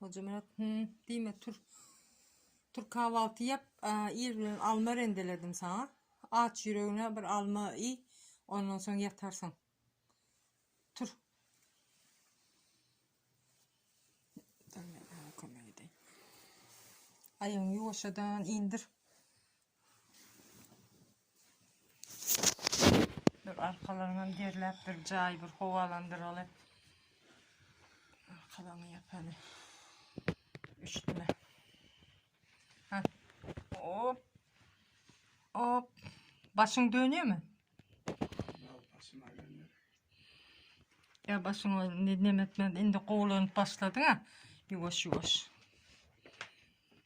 Hojamyrat, hüm, diýme, tur. Tur kahwalty ýap, ir bilen alma rendeledim saňa. Aç ýüregine bir alma iý, ondan soň ýatarsyň. Tur. Aýagyňy ýuwaşjadan indir. Dur arkalaryňam derläp bir jaý bir howalandyraly. Arkalaryňy ýapaly. Üşütme. Ha. Hop. Hop. Başyň dönýärmi? Ya başyňa ne demek indi gowlanyp başladyň ha. Ýuwaş ýuwaş.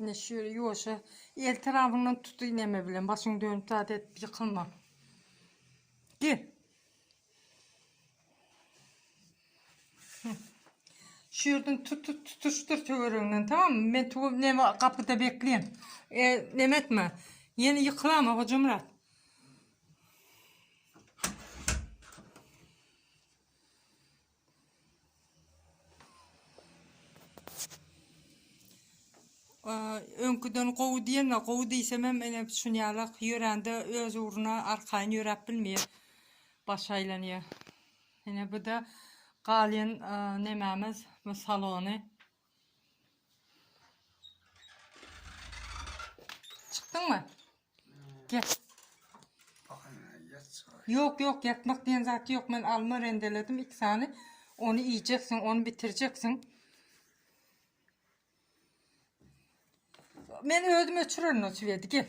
Ine şöyle ýuwaşa el tarapyndan tut iňňeme bilen başyňy dönüp zat edip ýykylma. Gel. Şu ýerden tut tut tutuşdyr töwereginden tamam Men tu neme gapyda bekleýän. E, neme etme. Ýene ýykylama Hojamyrat. Öňküden gowy diýenine gowy diýsem hem ene düşünýärlik ýörände öz ugruna arkaýyn ýöräp bilmeýär. Baş aýlanýar. Ene bu da galýan nemämiz bu salony. Çykdyň mı? Gel. Yok yok yatmak diyen zat yok. Men alma rendeledim iki tane. Onu yiyeceksin, onu bitireceksin. Men özüm öçürerin o çivedi. Gel.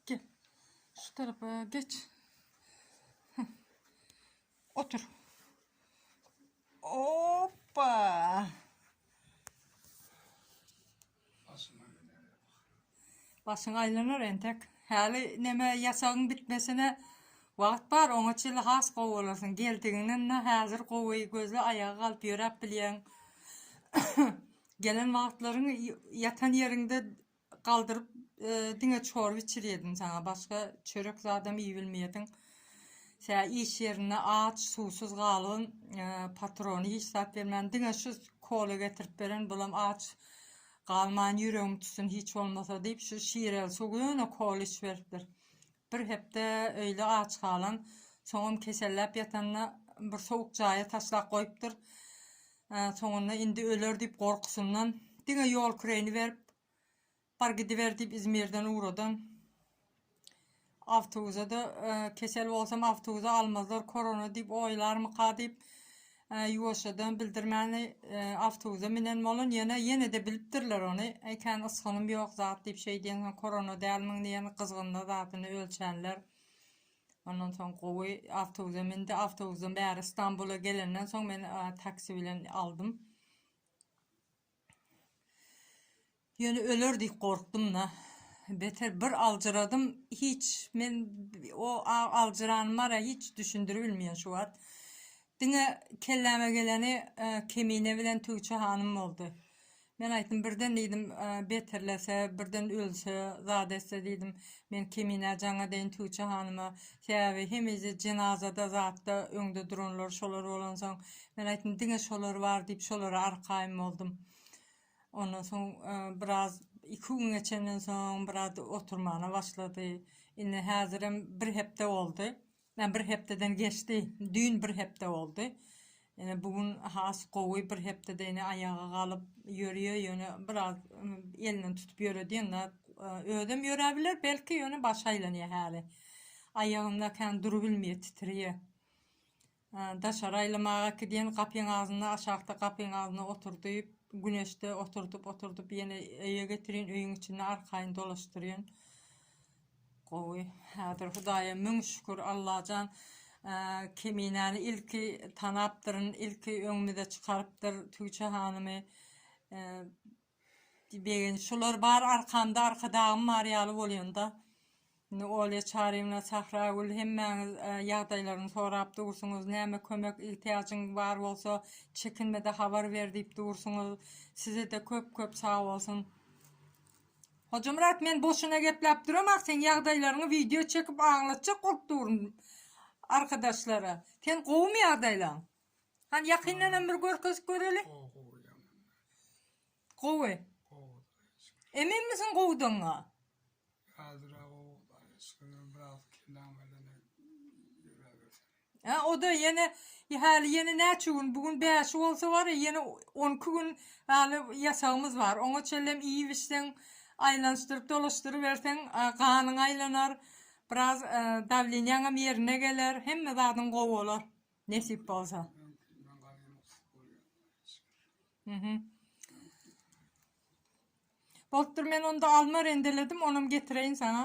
Gel. Şu tarapa geç. Otur. Hoppa. Başyň aylanar entek. Hali neme yaşagın bitmesine Wagt bar, oňa çenli has gowy bolarsyň. Geldigiňden ne häzir gowy, gözle aýaga galyp ýöräp bilýäň. Gelen wagtlaryň ýatan ýeriňde Galdyryp diňe çorba içirýediň saňa başga çörek zadam iýibilmeýediň. Tä iş ýerinde aç, suwsuz galgyn, patrony hiç zat bermän diňe şu kola getirip beren bulam aç galman ýüregiň tutsun hiç bolmasa diýip şu şireli suw ýöne kola içiberipdir. Bir hepde öýle aç galan, soňam keselläp ýatanda bir sowuk jaýa taşlap goýupdyr. Soňunda indi öler diýip gorkusyndan diňe ýol küreýini berip, Bar gidiber diýip Izmirden ugradan. Awtobusa-da e, kesel bolsam awtobusa almazlar korona diýip oýlarmyka diýip Ýuwaşjadan bildirmäni awtobuza minen bolan ýöne ýene-de bilipdirler ony. Ekän ysgynym ýok zat diýip şeý diýen soň korona dälmiň diýen gyzgynda zadyny ölçänler. Ondan soň gowy awtobuza mindi. Awtobuzdan bäri Stambula gelenden soň men taksi bilen aldym. Ýöne öler diýip gorkdum-da. Beter bir aljyradym, hiç men o aljyranyma-da hiç düşündiribilmeýän şu wagt. Diňe kelläme geleni Kemine bilen Tügçe hanym boldy. Men aýtdym, birden diýdim, beterlese, birden ölse, zat etse diýdim, men Keminä jaňa deýin Tügçe hanyma, Sebäbi hemeje jenazada zatda öňde duranlar şolar bolansoň, men aýtdym, diňe şolar bar diýip, şolara arkaýyn boldum. Ondan soň biraz iki gün geçenden soň biraz oturmana başlady. Indi häzirem bir hepde boldy. Ä bir hepdeden geçdi. Düýn bir hepde boldy. Ýöne bu gün has gowy bir hepdede ine aýaga galyp ýörýär ýöne biraz elinden tutup ýöredýän zat özem ýöräbiler belki ýöne başy aýlanýar häli aýagynda kän durubilmeýär titreýär daşary aýlamaga gidýän gapyň agzynda aşakda gapyň agzynda oturdyp güneşde oturdyp oturdyp ýene öýe getirýän öýüň içinde arkaýyn dolaşdyrýan Gowy häzir Hudaýa müň şükür Allajan Keminäni ilki tanapdyryn ilki öňümize çykarypdyr Tügçe hanymy Begin şular bar arkamda Arkadagym bar ýaly bolýanda indi Olýa Çaryýewna Sahragül hemmäňiz ýagdaýlaryny sorap dursuňyz näme kömek ihtiýajyň bar bolsa çekinmede habar ber diýip dursuňyz sizede köp köp sagbolsun. Hojamyrat men boşuna gepläp duramok seň ýagdaýlaryňy wideo çekip aňlatjak bolup durun arkadaşlara sen gowymy ýagdaýlaň hany ýakyndanam bir görkezip göreli gowy eminmisiň gowudygyňa Hä, o-da ýene häli ýene näçe gün, bu gün bäşi bolsa bar-a, ýene on iki gün häli ýasagymyz bar. Oňa çenlem iýip-içseň, aýlanyşdyryp dolaşdyryberseň, ganyň aýlanar, biraz dawleniýaňam ýerine geler, hemme zadyň gowy bolar, nesip bolsa. Bolupdyr, men onda alma rendeledim, onam getireýin saňa.